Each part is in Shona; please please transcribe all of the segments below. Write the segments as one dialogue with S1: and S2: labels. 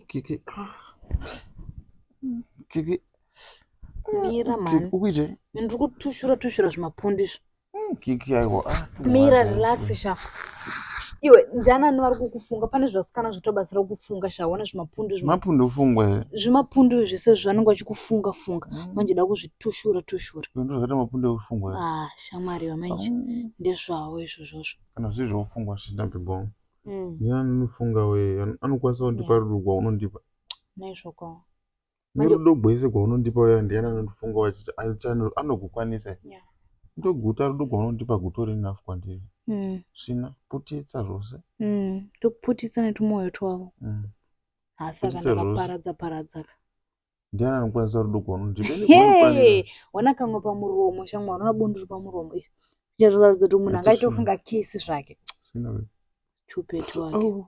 S1: Kiki. Kiki.
S2: Mira mani. Ukuite? Ndiri
S1: kutushura
S2: tushura zvimapundu izvi. Mm, kiki aiwa
S1: ah, tumwana mira
S2: aiwa. relax sha iwe ndiani ani vari kukufunga pane zvasikana zvatobatsira kukufunga sha wana zvimapundu zvima- mapundu fungwa here
S1: zvimapundu izvi zvese
S2: zvanenge vachikufunga funga manje da kuzvitushura tushura ndo zvakaita
S1: mapundu ekufungwa here ah shamwari vamanje
S2: Mm, ndezvavo izvozvozvo kana zviri zvekufungwa
S1: zvinabhibhoma Mm, ndiani anofunga we An- anokwanisa kundipa Yeah. rudo rwaunondipa naizvokwawo
S2: Nerudo
S1: gwese gwaunondipa uya ndiani anondifunga wachiti anogukwanisa yeah. ndoguta rudo gwaunondipa gutori enough kwandiri mm. svina putitsa zvose mm. tokuputitsa
S2: netumoyo twavo mm. hasa kana vaparadza paradzaka
S1: ndiani anokwanisa rudo gwaunondipa
S2: wana kamwe pamuromo shamwa unoona bundu ri pamuromo izvi zvichatoratidza kuti munhu angaitofunga kisi zvake
S1: chupetu
S2: wake oh.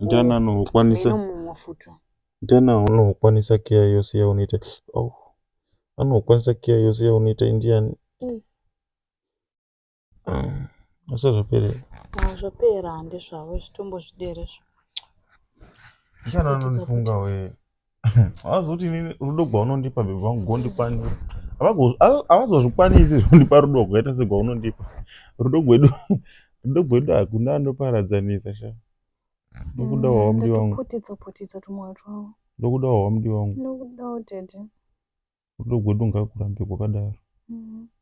S1: ndana anokwanisa ndana anokwanisa keya yose yaunoita oh. anokwanisa keya yose yaunoita indiani mm. ah, asi zvapera ah, zvapera
S2: handezvavo zvitombo zvideresvo
S1: ndana anonifunga wee havazoti inini rudo gwaunondipa bebe vangu gondikwanira havazozvikwanisi zvondipa rudo rwakaita segwaunondipa rudo gwedu rudo gwedu hakuna anoparadzanisa sha ndokuda wawamdi wangu
S2: ndokuda wawamdi wangu
S1: rudo gwedu ngakurambe
S2: kwakadaro
S1: mm.